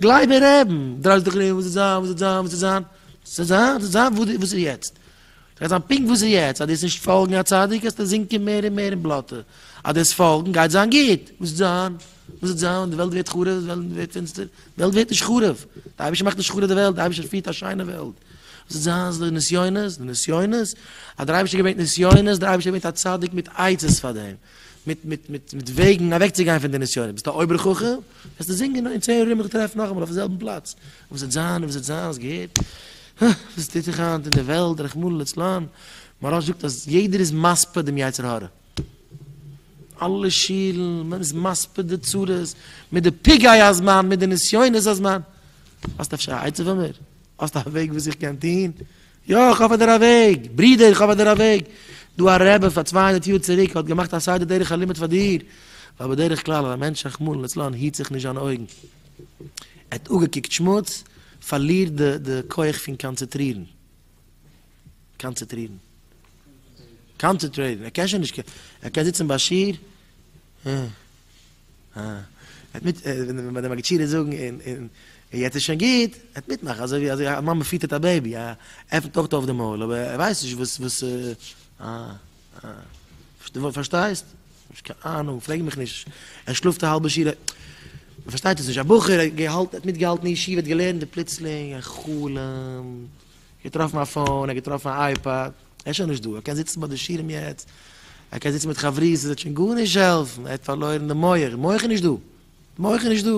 גלייב מיר רעבן, דרייסט זיך דאך געווען וואס איז זיין, וואס איז זיין, וואס איז זיין, ס'איז זיין, ס'איז זיין, וואס איז יעצט? ס'גייט זיין פונקט וואס איז יעצט, אז דו וועסט נישט פאלגן א צדיק וועסטו זינקען מער און מער אין בלאטע, אז דו וועסט פאלגן גייט זיין גוט, וואס איז זיין, וואס איז זיין, די וועלט ווערט חרוב, די וועלט ווערט פינסטער, די וועלט ווערט נישט חרוב, דער אייבערשטער מאכט נישט חרוב די וועלט, דער אייבערשטער פירט א שיינע וועלט, וואס איז זיין, ס'איז דא נסיונות, די נסיונות, אז דער אייבערשטער געברענגט נסיונות, דער אייבערשטער געברענגט א צדיק מיט עצות פאר דעם. מיט מיט מיט מיט וועגן אוועקצוגיין פון די נסיונות ביסט א אויבער חכם וועסטו זינגען אין צען יאר מיך טרעפן נאכאמאל אויפן זעלבן פלאץ וואס וועט זיין וואס וועט זיין האסט געהערט הא וואס טוט זיך היינט אין די וועלט רחמנא לצלן מוהראש זאגט אז יעדער איז מספיד דעם יצר הרע אלע שילן מען איז מספיד די צרות מיט די פגעי הזמן מיט די נסיונות הזמן האסט אפשר א עצה פאר מיר האסט א וועג וואס איך קען טון יא איך האף אדער א וועג. ברודער איך האף אדער א וועג. דא א רבי פאר צוויי הונדערט יאר צוריק האט געמאכט א סדר דרך הלימוד פאר דיר. ווייל בדרך כלל אז א מענטש רחמנא לצלן היט זיך נישט זיינע אויגן. ער האט אפגעקוקט שמוץ, פארלירט די די כח פון קאנצעטרירן. קאנצעטרירן. קאנצעטרעיטן. ער קען שוין נישט. ער קען זיצן ביי שיעור. ער האט מיט ווען די מגידשידער זאגן און און און יעצט איז שוין גוט, ער האט מיטמאכן אזוי ווי אזוי א מאמע פיטערט א בעיבי, ער עפנט אויך אויף די מויל אבער ער ווייסט נישט וואס וואס די פארשטייסט? נישט קיין אהנונג, פרעג מיך נישט, ער שלאפט א האלבע שיעור, מען פארשטייט עס נישט, א בחור האט געהאלט האט מיטגעהאלטן אין ישיבה האט געלערנט און פלוצלינג א חלום, געטראפן א פאון, ער האט געטראפן א אייפאד. ער איז שוין נישט דא, ער קען זיצן ביי די שירעם יעצט, ער קען זיצן מיט חברות, עס וועט שוין גארנישט העלפן, ער האט פארלוירן די מח, די מח איז נישט דא, די מח איז נישט דא,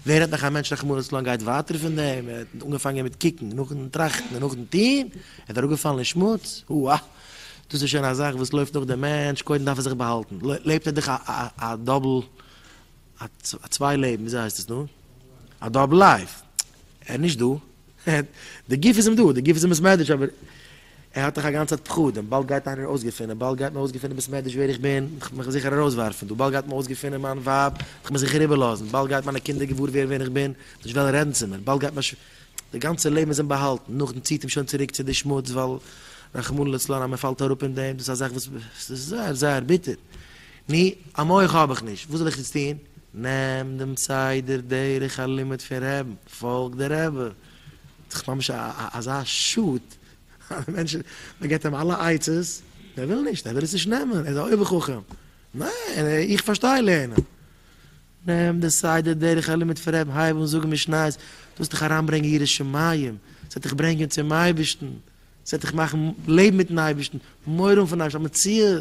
ווער האט נאך א מענטש רחמנות צו לאנג גייט ווייטער פון דעם, ער האט אנגעפאנגען מיט קוקן, נאכן טראכטן און נאכן טון, ער איז אראפגעפאלן אין שמוץ, הו א, דאס איז שוין א זאך וואס לויפט נאך דעם מענטש, קודם דארף ער זיך באהאלטן, לעבט ער דאך א א א א דאבל, א צוויי לעבן, וויאזוי הייסט עס נאר? א דאבל לייף, ער איז נישט דא, די גוף איז אים דא, די גוף איז אים בסמעדרש, אבער ער האט דאך א גאנצע צייט פחדים, באלד גייט איינער אויסגעפינען, באלד גייט מען אויסגעפינען בסמעדרש ווער איך בין, איך וועל מיך זיכער ארויסווארפן דא, באלד גייט מען אויסגעפינען מיין ווייב, וועט מען זיכער איבערלאזן, באלד גייט מיינע קינדער געוואר ווערן ווער איך בין, וועט נישט וועלן רעדן צו מיר, באלד גייט מיין ש. די גאנצע לעבן איז אים באהאלטן, נאכדעם ציט אים שוין צוריק צו די שמוץ, ווייל רחמנא לצלן אז מען פאלט אראפ אין דעם, דאס איז א זאך וואס איז זייער זייער ביטער. ני, א מח האב איך נישט, וואס זאל איך יעצט טון? נעם דעם סדר דרך הלימוד פון רעבן, פאלג די רבי. ס'דאך ממש אזא שאד אז די מענטש, מען געבט אים אלע עצות און ער וויל נישט, ער וויל עס נישט נעמען, ער איז א אויבער חכם. ניין, איך פארשטיי לערנען. נעם די סדר דרך הלימוד פון רעבן, הייב אן זאגן משניות, דאס וועט דיך אריינברענגען יראת שמים, ס'וועט דיך ברענגען צום אייבערשטן, ס'וועט דיך מאכן לעבן מיט'ן אייבערשטן, מורא האבן פון אייבערשטן, א מציאות.